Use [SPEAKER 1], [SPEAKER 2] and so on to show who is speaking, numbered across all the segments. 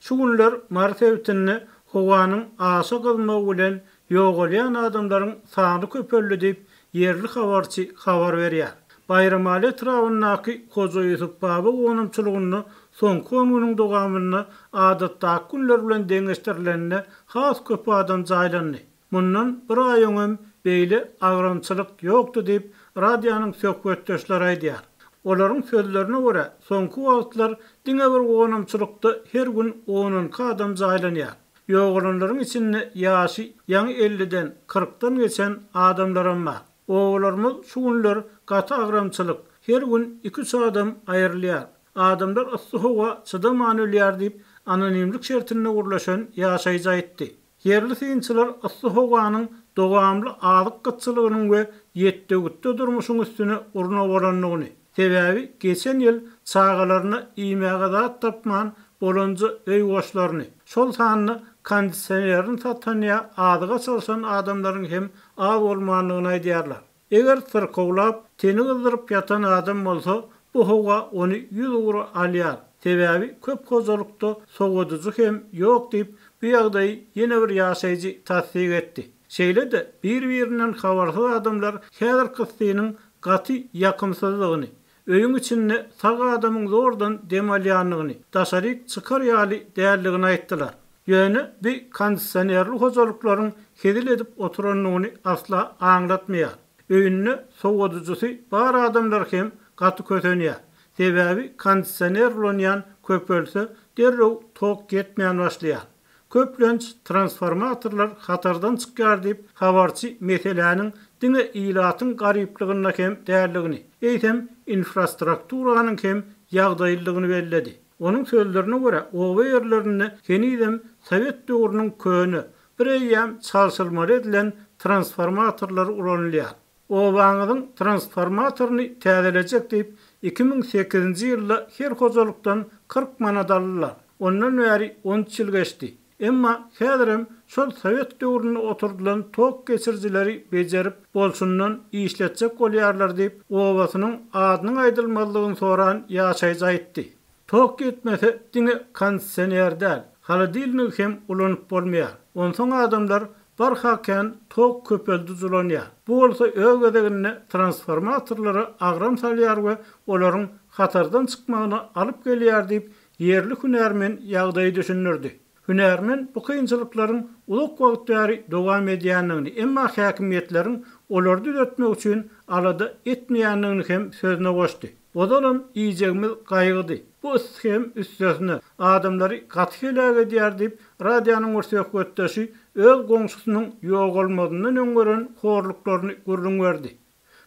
[SPEAKER 1] Şu günler Mars sebitinde howanyň aşa gyzmagy bilen ýogalýan adamlaryň sany köpeldi diýip, ýerli habarçy habar berýär. Baýramaly etrabyndaky Hoja Ýusup baba gonamçylygynda soňky on günüň dowamynda adatdaky günler bilen deňeşdirilende has köp adam jaýlandy. Mundan bir aý öňem beýle agramçylyk ýokdy diýip, radionyň söhbetdeşleri aýdýar. Olaryň sözlerine görä, soňky wagtlar diňe bir gonamçylykda her gün on-onki adam jaýlanýar. Ýogalanlaryň içinde ýaşy ýaňy elliden, kyrkdan geçen adamlaram bar. Obalarymyz şu günler gaty agramçylyk, her gün iki-üç adam aýrylýar. Adamlar yssy howa çydaman ölýär diýip, anonimlik şertinde gürleşen ýaşaýjy aýtdy. Ýerli synçylar yssy howanyň dowamly azyk gytçylygynyň we ýetdögütde durmuşyň üstüne urna bolandygyny, sebäbi geçen ýyl çagalaryna iýmäge zat tapman bolanja öý goşlaryny, şol sanda kondisionerini satan ýa azyga çalşan adamlaryň hem az bolmandygyny aýdýarlar. Eger syrkawlap, teni gyzdyryp ýatan adam bolsa, bu howa ony ýüz ugra alýar, sebäbi köp hojalykda sowadyjy hem ýok diýip, bu ýagdaýy ýene bir ýaşaýjy tassyk etdi. Şeýle-de bir-birinden habarsyz adamlar häzirki yssynyň gaty ýakymsyzdygyny, Öýüň içinde sag adamyň zordan dem alýanyny, daşaryk çykar ýaly däldigini aýtdylar. Ýöne bi kondisionerli hojalyklaryň hezil edip oturandygyny asla aňlatmaýar. Öýünde sowadyjysy bar adamlar hem gaty kösenýär. Sebäbi kondisioner ulanýan köpelse, derrew tok ýetmän başlaýar. Köplenç, transformatorlar hatardan çykýar diýip, habarçy meseläniň diňe ilatyň garyplygynda hem däldigini, eýsem, infrastrukturanyň hem ýagdaýlydygyny belledi. Onuň sözlerine görä, oba ýerlerinde henizem sowet döwrüniň köne, bireýýäm çalşyrmaly edilen transformatorlary ulanylýar. Obaňyzyň transformatoryny täzelejek diýip, iki müň sekizinji ýylda her hojalykdan kyrk manat aldy-la. Ondan bäri on üç ýyl geçdi. Emma häzirem şol sowet döwründe oturdylan tok geçirijileri bejerip, bolşundan işletjek bolýarlar diýip, obasynyň adynyň aýdylmazlygyny soran ýaşaýjy aýtdy. Tok ýetmese, diňe kondisioner däl, holodilnigi hem ulanyp bolmaýar. Onsoň adamlar barha kän tok köpeldij ulanýar. Bu bolsa öz gezeginde transformatorlara agram salýar we olaryň hatardan çykmagyna alyp gelýär diýip, ýerli hünärmen ýagdaýy düşündirdi. Hünärmen bu kynçylyklaryň uzak wagt bäri dowam edýändigini, emma häkimiýetleriň olary düzetmek üçin alada etmeýändigini hem sözüne goşdy. Ozalam iýjegimiz gaýgydy. Bu yssy hem üstesine, adamlary gaty heläk edýär diýip, radionyň bir söhbetdeşi öz goňşusynyň ýogalmazyndan öň gören horluklaryny gürrüň berdi.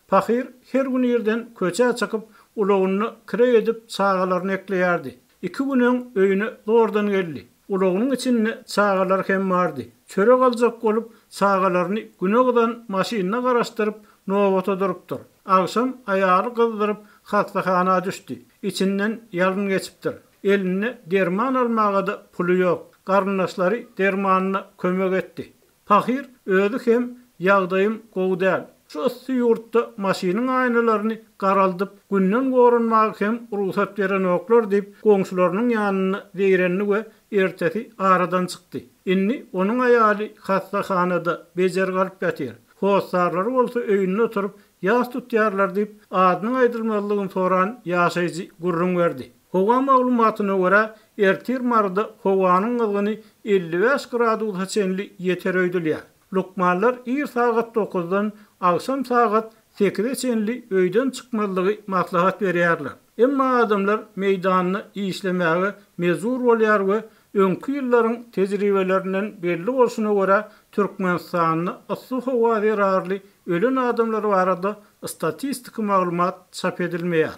[SPEAKER 1] Pahyr her gün irden köçä çykyp, ulagyny kireý edip, çagalaryny ekleýärdi. Iki gün öň öýüne zordan geldi. Ulagynyň içinde çagalary hem bardy. Çörek aljak bolup, çagalaryny güne gyzan maşynyna garaşdyryp, nobata durupdyr. Agşam aýaly gyzdyryp, hassahana düşdi. Içinden ýalyn geçipdir. Elinde derman almaga-da puly ýok. Garyndaşlary dermanyna kömek etdi. Pahyr özi hem Ýagdaýym gowy däl. Şu yssy ýurtda maşynyň aýnalaryny garaldyp, günden goranmaga hem rugsat berenoklar diýip, goňşularynyň ýanynda zeýrendi we ertesi aradan çykdy. Indi onuň aýaly hassahanada bejer galyp ýatyr. Hossarlary bolsa öýünde oturyp, ýas tutýarlar diýip, adynyň aýdylmazlygyny soran ýaşaýjy gürrüň berdi. Howa maglumatyna görä, ertir Maryda howanyň gyzgyny elli bäş gradusa çenli ýeter öýdülýär. Lukmanlar ir sagat dokuzdan agşam sagat sekize çenli öýden çykmazlygy maslahat berýärler. Emma adamlar meýdanda işlemäge mejbur bolýar we öňki ýyllaryň tejribelerinden belli bolşuna görä, Türkmenistanda yssy howa zerarly ölen adamlar barada statistiki maglumat çap edilmeýär.